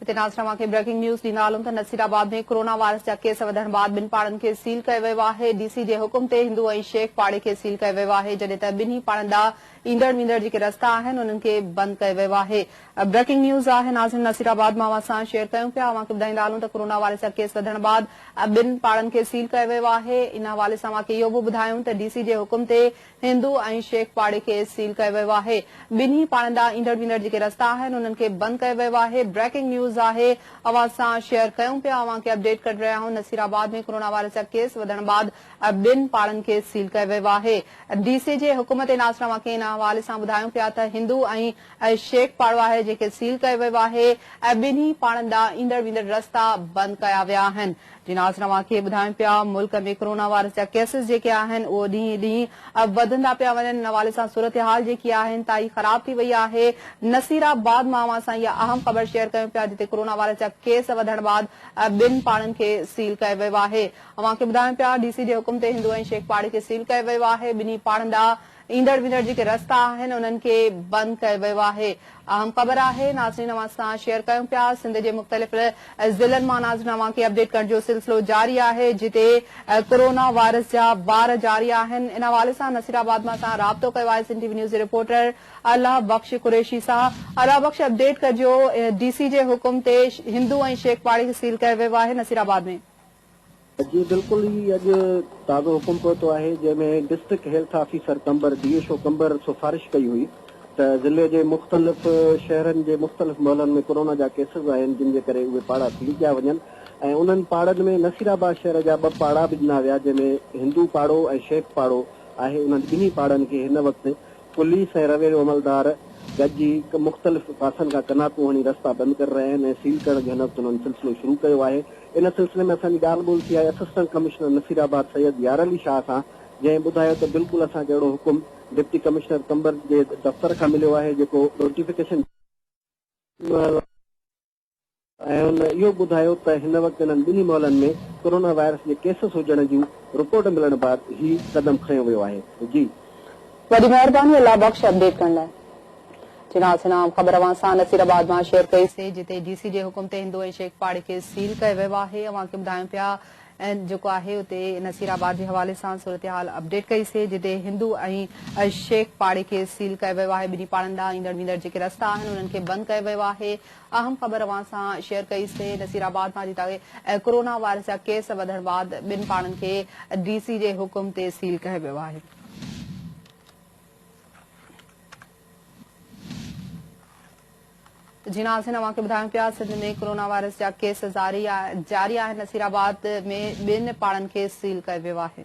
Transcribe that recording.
هتي ناظرين اوهان کي بريڪنگ نيوز ڏيندا هلون ته نصير آباد ۾ ڪورونا وائرس جا ڪيس وڌڻ بعد ٻن پاڙن کي سيل ڪيو ويو آهي ڊي سي جي حڪم تي هندو ۽ شيخ پاڙي کي سيل ڪيو ويو آهي جڏهن ته ٻنهي پاڙن ڏانهن ايندڙ ويندڙ جيڪي رستا آهن انهن کي بند ڪيو ويو آهي بريڪنگ نيوز آهي ناظرين نصير آباد مان اوهان سان شيئر ڪيون پيا اوهان کي ٻڌائيندا هلون ته ڪورونا وائرس جا ڪيس وڌڻ بعد ٻن پاڙن کي سيل ڪيو ويو آهي ان حوالي سان اوهان کي اهو به ٻڌايون ته ڊي سي جي حڪم تي هندو ۽ شيخ پاڙي کي سيل ڪيو ويو آهي، ٻنهي پاڙن ڏانهن ايندڙ ويندڙ جيڪي رستا آهن انهن کي بند ڪيو ويو آهي، بريڪنگ نيوز آهي اوهان سان شيئر ڪيون پيا اوهان کي اپڊيٽ ڪري رهيا آهيون نصير آباد ۾ ڪورونا وائرس جا ڪيس وڌڻ بعد ٻن پاڙن کي سيل ڪيو ويو آهي ڊي سي جي حڪم تي ناصر اوهان کي ان حوالي سان ٻڌايون پيا ته هندو ۽ شيخ پاڙو آهي جنهن کي سيل ڪيو ويو آهي ۽ ٻنهي پاڙن ڏانهن ايندڙ ويندڙ رستا بند ڪيا ويا آهن جي ناز توهان کي ٻڌايون پيا ملڪ ۾ ڪورونا وائرس جا ڪيسز جيڪي آهن اهو ڏينهن ڏينهن وڌندا پيا وڃن ان حوالي سان صورتحال جيڪي آهي انتهائي خراب ٿي وئي آهي نصيرآباد مان اوهان سان اها اهم خبر شيئر ڪيون پيا جتي ڪورونا وائرس جا ڪيس وڌڻ بعد ٻن پاڙن کي سيل ڪيو ويو آهي اوهان کي ٻڌايون پيا ڊي سي جي حڪم تي هندو ۽ شيخ پاڙي کي سيل ڪيو ويو آهي ٻنهي پاڙن ڏانهن ايندڙ ويندڙ جيڪي رستا آهن انهن کي بند ڪيو ويو آهي اهم خبر آهي ناظرين اوهان سان شيئر ڪيون پيا سنڌ جي مختلف ضلعن مان ناظرين اوهان کي اپڊيٽ ڪرڻ جو سلسلو جاري آهي جتي ڪورونا وائرس جا بار جاري آهن ان حوالي سان نصير آباد مان اسان رابطو ڪيو آهي سنڌ ٽي وي نيوز جي رپورٽر الله بخش قريشي سان الله بخش اپڊيٽ ڪجو ڊي سي جي حڪم تي هندو ۽ شيخ پاڙي کي سيل ڪيو ويو آهي نصير آباد ۾ جي بلڪل هي اڄ تازو حڪم پهتو آهي جنهن ۾ district health officer Qambar D H O Qambar سفارش ڪئي هئي ته ضلعي جي مختلف شهرن جي مختلف محلن ۾ ڪورونا جا ڪيسز آهن جن جي ڪري اهي پاڙا سيل ڪيا وڃن ۽ انهن پاڙن ۾ نصيرآباد شهر جا ٻه پاڙا به ڏنا ويا جنهن ۾ هندو پاڙو ۽ شيخ پاڙو آهي انهن ٻنهي پاڙن کي هن وقت پوليس ۽ روينيو عملدار گڏجي مختلف پاسن کان ڪناتون هڻي رستا بند ڪري رهيا آهن ۽ سيل ڪرڻ جي هنر تونن سلسلو شروع ڪيو آهي. ان سلسلي ۾ اسان جي ڳالهه ٻولهه ٿي آهي اسسٽنٽ ڪمشنر نصيرآباد سيد يارعلي شاهه سان جنهن ٻڌايو ته بلڪل اسان کي اهڙو حڪم ڊپٽي ڪمشنر قمبر جي دفتر کان مليو آهي جيڪو نوٽيفڪيشن ڏيڻ وارو آهي. ۽ هن اهو ٻڌايو ته هن وقت انهن ٻنهي محلن ۾ ڪورونا وائرس جي ڪيسز هجڻ جون رپورٽ ملڻ بعد هي قدم کنيو ويو آهي جي. وڏي مهرباني الله بخش اپڊيٽ ڪرڻ لاء. جي ناصر عام خبر اوهان سان نصير آباد مان شيئر ڪئي سي جتي ڊي سي جي حڪم تي هندو ۽ شيخ پاڙي کي سيل ڪيو ويو آهي اوهان کي ٻڌايون پيا ۽ جيڪو آهي اتي نصير آباد جي حوالي سان صورتحال اپڊيٽ ڪئي سي جتي هندو ۽ شيخ پاڙي کي سيل ڪيو ويو آهي ٻنهي پاڙن ڏانهن ايندڙ ويندڙ جيڪي رستا آهن انهن کي بند ڪيو ويو آهي اهم خبر اوهان سان شيئر ڪئي سي نصير آباد مان جتان ڪورونا وائرس جا ڪيس وڌڻ بعد ٻن پاڻن کي ڊي سي جي حڪم تي سيل ڪيو ويو آهي. جي ناظرين اوهان کي ٻڌايون پيا سنڌ ۾ ڪورونا وائرس جا ڪيس جاري آهن نصير آباد ۾ ٻن پاڻن کي سيل ڪيو ويو آهي.